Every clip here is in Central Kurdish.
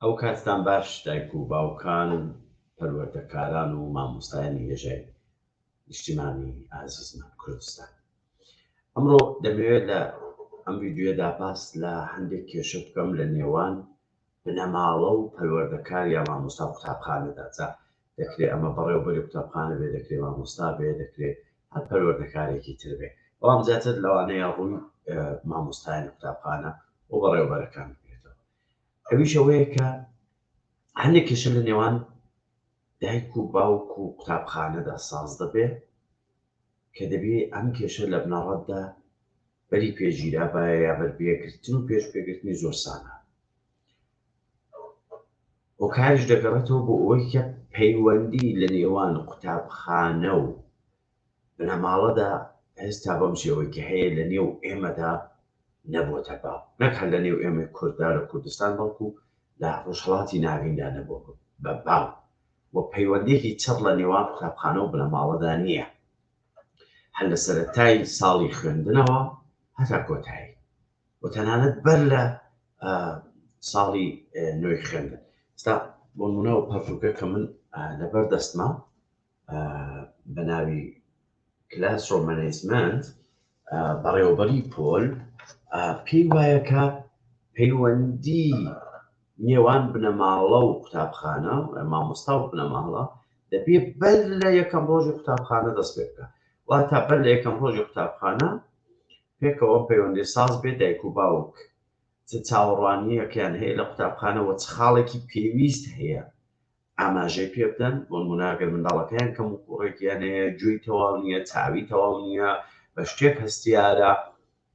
ئەو کاتتان باش دایک و باوکان پەروەردەکاران و مامۆستایانی هێژای نیشتیمانی ئازیزمان کوردستان ئەمڕۆ دەمەوێت لە ئەم ویددیوێدا باس لە هەندێک کێشە بکەم لە نێوان بنەماڵە و پەروەردەکار یا مامۆستا قوتابخانەدا جا دەکرێ ئەمە بەڕێوەبەری قوتابخانە بێ دەکرێ مامۆستا بێ دەکرێ هەر پەروەردەکارێکی تر بێ بەڵام زیاتر لەوانەیە ڕووی مامۆستایانی قوتابخانە و بەڕێوەبەرەکان بێتەوە ئەویش ئەوەیە کە هەندێک کێشە لە نێوان دایک و باوک و قوتابخانەدا ساز دەبێ کە دەبێ ئەم کێشە لە بنەڕەتدا بەری پێ گیرا بایە یا بەر پێگرتن و پێش پێگرتنی زۆر سانە هۆکاریش دەگەڕێتەوە بۆ ئەوەی کە پەیوەندی لە نێوان قوتابخانە و بنەماڵەدا هێستا بەم شێوەی کە هەیە لە نێو ئێمەدا نەبووتە با نەک هەر لە نێو ئێمە کورددا لە کوردستان بەڵکو لە ڕۆژهڵاتی ناویندا نەبوو بە با و پەیوەندێکی چڕ لە نێوان قوتابخانە و بنەماڵەدا نییە هەر لە سەرەتای ساڵی خوێندنەوە هەتا کۆتایی و تەنانەت بەر لە ساڵی نوێی خوێندن ستا بۆ منەوە پەرتوکە کە من لەبەر دەستما بە ناوی کلاس ڕۆمەنیزمنت بەڕێوەبەری پۆل پێی وایە کە پەیوەندی نێوان بنەماڵە و قوتابخانە مامۆستا و بنەماڵە دەبێ بەر لە یەکەم ڕۆژی قوتابخانە دەست پێ بکە وا تا بەر لە یەکەم ڕۆژی قوتابخانە پێکەوە پەیوەندی ساز بێ دایک و باوک چ چاوەڕوانیەکەیان هەیە لە قوتابخانەوە چ خاڵێکی پێویست هەیە ئاماژەی پێ بدەن، بۆنموونە ئەگەر منداڵەکەیان کەموکووڕێکیان هەیە، گوێی تەواو نییە، چاوی تەواو نییە، بە شتێک هەستیارە،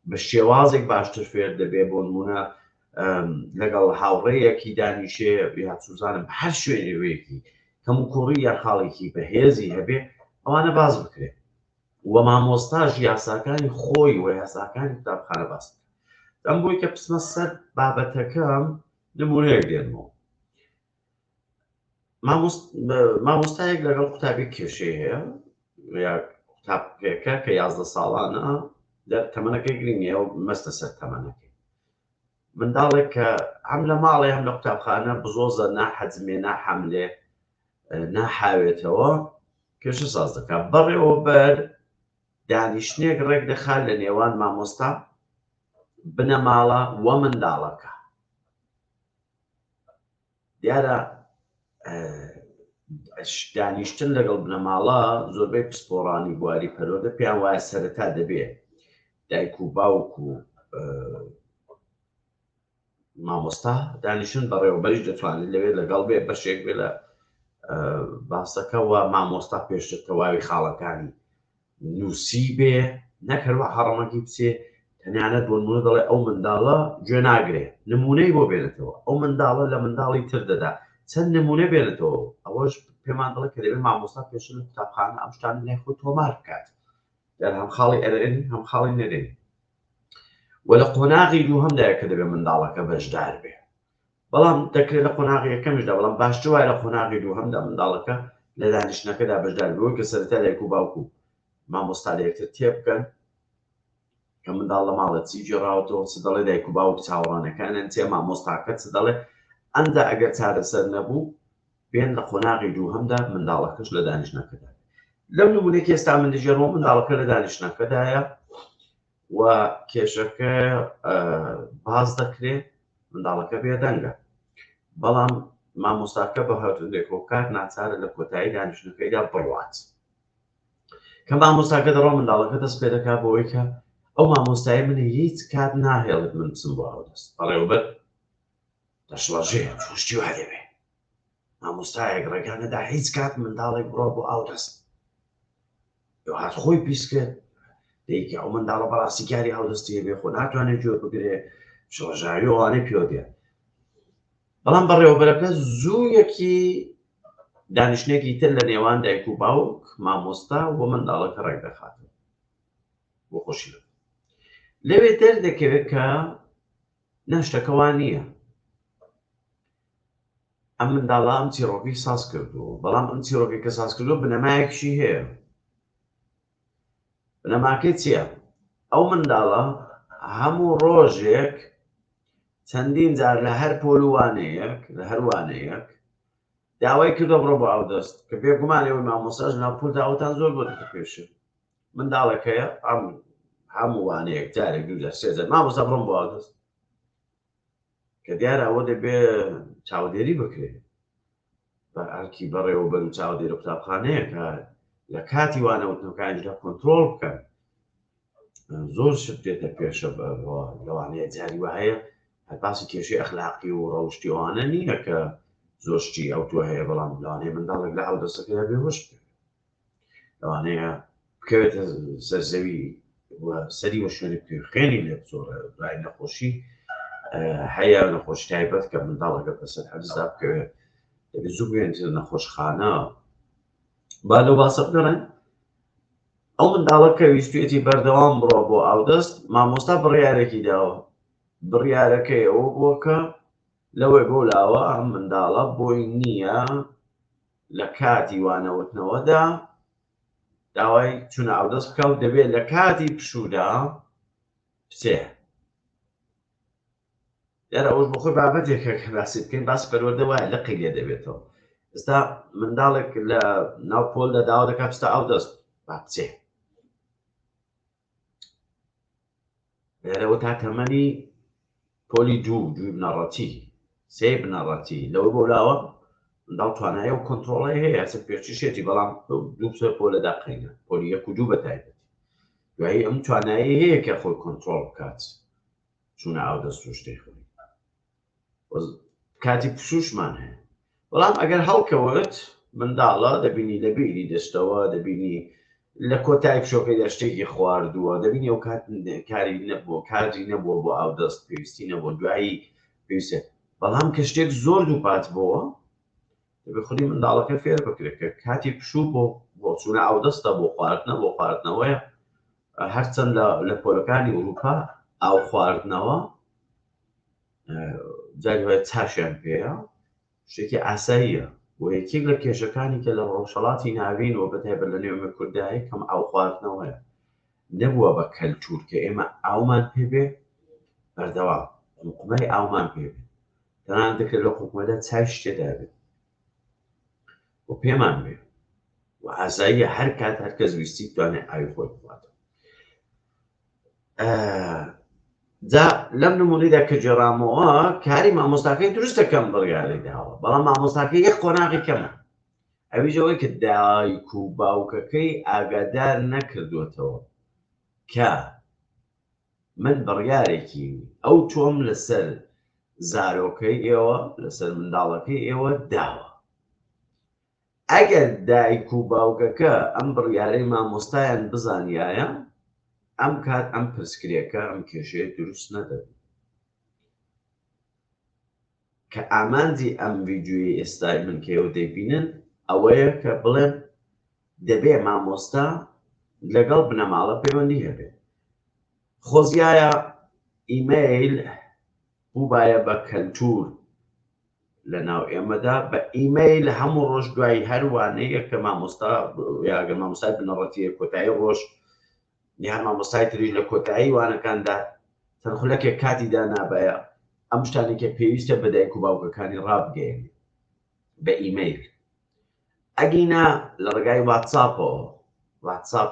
بە شێوازێک باشتر فێر دەبێت، بۆنموونە لەگەڵ هاوڕێیەکی دانیشێ یا چوزانم بە هەر شوێنێکی کەموکووڕی یا خاڵێکی بەهێزی هەبێ ئەوانە باز بکرێت و مامۆستاش یاساکانی خۆی و یاساکانی قوتابخانە باس ئەم بۆی کە پسمە سەر بابەتەکەم نمونەیەک دێنمەوە مامۆستایەک لەگەڵ قوتابی کێشەی هەیە قوتابەکە کە یازدە ساڵانە لە تەمەەکەی گرنگە و مەستە سەر تەمەەکەی منداڵێک کە ئەم لە ماڵێ هەم لە قوتابخانە بزۆزە ناحەزمێ ناحەملێ ناحاوێتەوە کێشە ساز دەکات بەڕێەوە بەر دانیشتنێک ڕێک دەخات لە نێوان مامۆستا بنەماڵە وە منداڵەکە دیارە دانیشتن لەگەڵ بنەماڵە زۆربەی پسپۆڕانی بواری پەرۆدە پێیان وایە سەرەتا دەبێ دایک و باوک و مامۆستا دانیشن بەڕێوەبەریش دەتوانێت لەوێ لەگەڵ بێ بەشێک بێ لە باسەکە و مامۆستا پێشتر تەواوی خاڵەکانی نووسیبێ نەک هەر وەها ڕەمەکی بچێ تەنانەت بۆ نمونە دەڵێ ئەو منداڵە گوێ ناگرێ نمونەی بۆ بێنێتەوە ئەو منداڵە لە منداڵی تر دەدا چەند نمونە بێنێتەوە ئەوەش پێمان دەڵێت کە دەبێت مامۆستا پێش لە قوتابخانە ئەم شتان لای خۆی تۆمار بکات دەر هەم خاڵی ئەرێن هەم خاڵی نەرێن وە لە قۆناغی دوو هەمدایە کە دەبێت منداڵەکە بەشدار بێ بەڵام دەکرێت لە قۆناغی یەکەمیشدا، بەڵام باشتر وایە لە قۆناغی دووهەمدا منداڵەکە لە دانیشتنەکەدا بەشدار بێت، وەک لە سەرەتای دایک و باوک و مامۆستا لە یەکتر تێبگەن کە منداڵ لە ماڵە چی گێڕاوەتەوە، چ دەڵێ دایک و باوک چاوەڕانەکانیان چیە، مامۆستاکە چ دەڵێ، ئەمدا ئەگەر چارەسەر نەبوو بێن لە قۆناغی دووهەمدا منداڵەکەش لە دانیشتنەکەدا. لەو نمونەی کە ئێستا من دەگێڕمەوە منداڵەکە لە دانیشتنەکەدایە، و کێشەکە باز دەکرێت منداڵەکە بێدەنگە بەڵام مامۆستاکە بە هەردوولێک و کار ناچارە لە کۆتایی دانیشتەکەیدا بڕوات کە مامۆستاکە دەڕۆ منداڵەکە دەست پێ دەکات بۆەوەی کە ئەو مامۆستای منی هیچ کات ناهێڵێت من بچم بۆ ئەودەست بەڕێوبەر دەشڵەژێ توشتی وا دەبێ مامۆستایەک ڕێگانەدا هیچ کات منداڵێک بڕۆ بۆ ئاودەست هات خۆی پیس کرد دەیکە ئەو منداڵە بەڕاستی کاری هەڵدەستی بێ خۆ ناتوانێت جۆر بگرێ شۆژاوی ئەوانەی پێوە دێ بەڵام بەڕێوەبەرەکە زوو یەکی دانیشتێکی تر لە نێوان دایک و باوک مامۆستا و منداڵەکە ڕێک دەخات بۆ خۆشی لەوێ دەردەکەوێت کە ناشتەکەوان نییە ئەم منداڵە ئەم چیڕۆکەی ساز کردووە، بەڵام ئەم چیڕۆکەی کە ساز کردووە بنەمایەکیشی هەیە. بنەماکەی چییە؟ ئەو منداڵە هەموو ڕۆژێک چەندین جار لە هەر پۆل و وانەیەک لە هەر وانەیەک داوای کردوە بڕۆ بۆ ئاودەست کە بێگومان ئێوەی مامۆستاش ناو پۆلدا ئەوتان زۆر بۆ دەتەپێشێ منداڵەکەیە ئەم هەموو وانەیەک جارێک دوو جار سێ جار مامۆستا بڕۆم بۆ ئاودەست کە دیارە ئەوە دەبێ چاودێری بکرێت بە ئەرکی بەڕێوەبەر و چاودێرە قوتابخانەیە کە لە کاتی وانەوتنەکانیدا کۆنتترۆل بکەن زۆر شت دێتە پێشە لەوانەیە جاری وهەیە هەپاسی کێشی ئەخلاقی و ڕەوشتی ئەوانە نییە کە زۆشتی ئەو تو هەیە بەڵام لەوانەیە منداڵێک لە ئەو دەستەکەدا بێوەش بکەن ئەوانەیە بکەوێتە سەرزەوی سەری وە شوێنی پێ خوێنی لێ زۆرە دوای نەخۆشی هەیە نەخۆش تایبەت کە منداڵەکە بەسەر حەزدا بکەوێت دەبێت زوو بێنتر نەخۆشخانە با لە باسە بگەڕێن ئەو منداڵە کە ویستێتی بەردەوام بڕۆ بۆ ئاودەست مامۆستا بڕیارێکی داوە بڕیارەکەی ئەوە بووە کە لەوەی بۆ لاوە ئەم منداڵە بۆی نییە لە کاتی وانەوتنەوەدا داوای چونە ئاودەست بکە و دەبێت لە کاتی پشوودا بچێ دیارە ئەوش بخۆی بابەتێکە کە باسی بکەین باس پەروەدە وایە لەقی لێ دەبێتەوە ئستا منداڵێک لە ناو پۆل دەداوە دەکات پستا ئەو دەست با بچێ لێرەوە تا تەمەنی پۆلی دوو دوی بنەڕەتی سێ بنەڕەتی لەوە بۆ لاوە منداڵ توانایە و کۆنتترۆڵی هەیە هەسە پێچیشێتی بەڵام دوو سێ پۆ لە داقینە پۆلی یەک و دوو بەتایبەت دوایی ئەم توانایی هەیە کە خۆی کۆنتترۆل بکات چونە ئاو دەست و شتێک کاتی پشوشمان هەیە بەڵام ئەگەر هەڵکەوت منداڵە دەبینی لە بیری دەشتەوە دەبینی لە کۆتای پشۆکەی دەشتێکی خواردووە دەبینی ئەو کات کاری نەبووە کاری نەبووە بۆ ئاو دەست پێویستی نەبووە دوایی پێویستە بەڵام کە شتێک زۆر دووپات بووە دەبێت خودی منداڵەکە فێر بکرێت کە کاتی پشوو بۆ بۆچوونە ئاو دەستە بۆ خواردنە بۆ خواردنەوەیە هەرچەند لە پۆلەکانی ئوروپا ئاو خواردنەوە جاگوای چاشیان پێەیە شتێکی ئاساییە بۆ یەکێک لە کێشەکانی کە لە ڕۆژهڵاتی ناوین و بەتایبەت لە نێومە کوردایە کەم ئاو خواردنەوەیە نەبووە بە کەلتور کە ئێمە ئاومان پێبێ بەردەوا حکومای ئاومان پێبێ تەنان دەکرێت لە حکومەدا چای شتێدا بێت و پێمان بێ و ئازاییە هەر کات هەرکەس ویستی توانێت ئاوی خۆی بخواتەوە جا لەم نمونیدا کە جێڕامەوە کاری مامۆستاکەی دروست دەکەم بڕیاری داوە بەڵام مامۆستاکە یەک قۆناغی کەمە ئەویژەوەی کە دایک و باوکەکەی ئاگادار نەکردوێتەوە کە من بڕیارێکی ئەو تۆم لەسەر زارۆکەی ئێوە لەسەر منداڵەکەی ئێوە داوە ئەگەر دایک و باوکەکە ئەم بڕیارەی مامۆستایان بزانیایە ئەم کات ئەم پرسکرێکە ئەم کێشەیە دروست نەدەبوو کە ئامانجی ئەم ویددیوی ئێستای من کە ئێوە دەیبینن ئەوەیە کە بڵێن دەبێ مامۆستا لەگەڵ بنەماڵە پەیوەندی هەبێت خۆزیایە ئیمەیل بووبایە بە کەلتور لە ناو ئێمەدا بە ئیمەیل هەموو ڕۆژ دوای هەروانەیە کە مامۆستا یاگە مامۆستای بنەڕەتیە کۆتایی ڕۆژ نیان مامۆستای تریش لە کۆتایی وانەکاندا چەند خولەکێک کاتی دانابایە ئەم شتانێکە پێویستە بەدایک و باوکەکانی ڕابگەێن بە ئیمەیل ئەگینا لە ڕێگای واتساپەوە واتساپ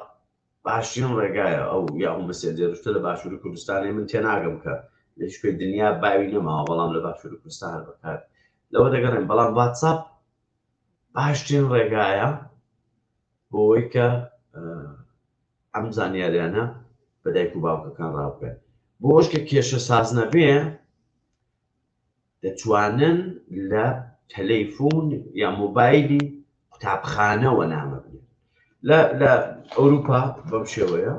باشترین ڕێگایە ئەو یاهو مەسێنجێرە شتە لە باشووری کوردستانێ من تێناگەم کە لە هیچ کوێی دنیا باوی نەماوە بەڵام لە باشووری کوردستان هەر بەکار لەوە دەگەڕێن بەڵام واتساپ باشترین ڕێگایە بۆ ئەوەی کە ئەم زانیاریانە بە دایک و باوکەکان ڕاوکەن بۆش کە کێشە ساز نەبێ دەتوانن لە تەلەیفون یا مۆبایلی قوتابخانەوە نامە بنێن لە ئەوروپا بەم شێوەیە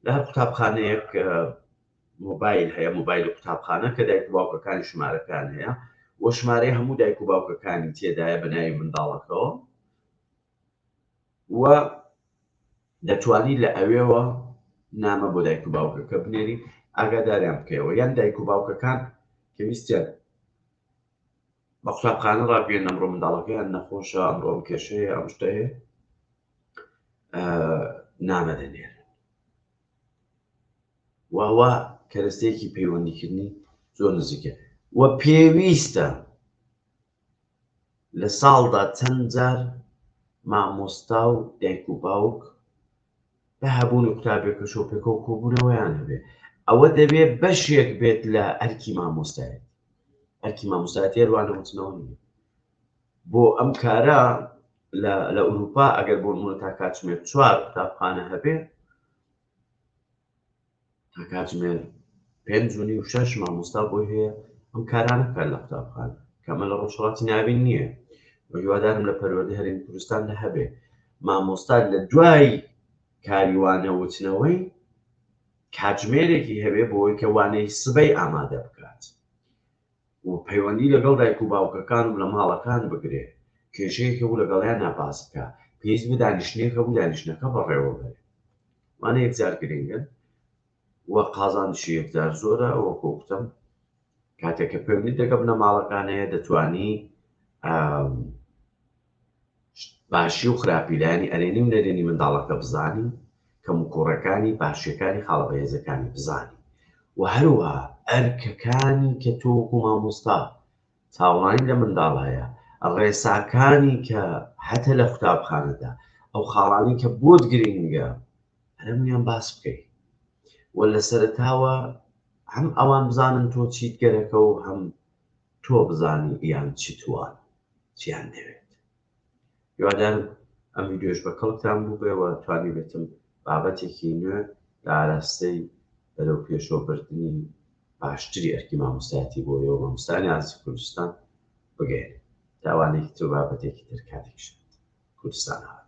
لە هەر قوتابخانەیەک مۆبایل هەیە مۆبایل قوتابخانە کە دایک باوکەکانی ژمارەکان هەیە وە ژمارەی هەموو دایک و باوکەکانی تێدایە بەناوی منداڵەکەەوە و دەتوانی لە ئەوێوە نامە بۆ دایک و باوکەکە بنێری ئاگاداریان بکەیەوە یان دایک و باوکەکان کە ویستیان بە قوتابخانە ڕابگەێن ئەمڕۆ منداڵەکەیان نەخۆشە ئەمڕۆم کێشەیە ئەم شتەیە نامە دەنێر واوا کەرەستەیەکی پەیوەندیکردنی زۆر نزیکە وە پێویستە لە ساڵدا چەند جار مامۆستا و دایک و باوک بە هەبوونی قوتابیە کە شۆپێکەوە کۆبوونەوەیان هەبێ ئەوە دەبێ بەشێک بێت لە ئەرکی مامۆستایەت ئەرکی مامۆستایەتی هەروانە وتنەوە نیە بۆ ئەم کارە لە ئوروپا ئەگەر بۆ نمونە تا کاتژمێر چوار قوتابخانە هەبێ کاتژمێر پێنج و نیو شەش مامۆستا بۆی هەیە ئەم کارانە بکات لە قوتابخان کەمە لە ڕۆژهڵاتی ناوین نییە هیوادارم لە پەروەردە هەرێمی کوردستان لە هەبێ مامۆستا لە دوای کاریوانە وتنەوەی کاتژمێرێکی هەبێ بۆی کە وانەی سبەی ئامادە بکات و پەیوەندی لەگەڵ دایک و باوکەکان و لە ماڵەکان بگرێ، کێشەیەک هەبوو لەگەڵیانا باس بکا، پێویست بوو دانیشتنێک هەبوو دانیشتنەکە بەڕێوە بەرێ. ئەمانە یەکجار گرنگن و قازانجی یەکجار زۆرە، وەکوو گوتم کاتێک کە پەیوەندیت لەگەڵ بنەماڵەکان هەیە دەتوانی باشی و خراپی لایەنی ئەرێنی و نەرێنی منداڵەکە بزانین، کەموکوڕەکانی، باشیەکانی، خاڵە بەهێزەکانی بزانین و هەروەها ئەرکەکانی کە تۆ وەکو مامۆستا چاوەڕانی لە منداڵ هەیە، ڕێساکانی کە هەتە لە قوتابخانەدا ئەو خاڵانی کە بۆت گرینگە هەرمویان باس بکەیت و لە سەرتاوە هەم ئەوان بزانن تۆ چیت گەرەکە و هەم تۆ بزانانی یان چیتوان چیان دەوێت یوادان ئەم ویددیوش بە کەڵکتان بوو بێەوە توانی بێتم بابەتێکی نوێ لە ئاراستەی بەرەو پێشۆبردننی باشتری ئەرکی مامۆستایەتی بۆ یەوە مامۆستانی ئازی کوردستان بگەێن تاوانێکی تۆ بابەتێکی ترکاتێکش کوردستان هاات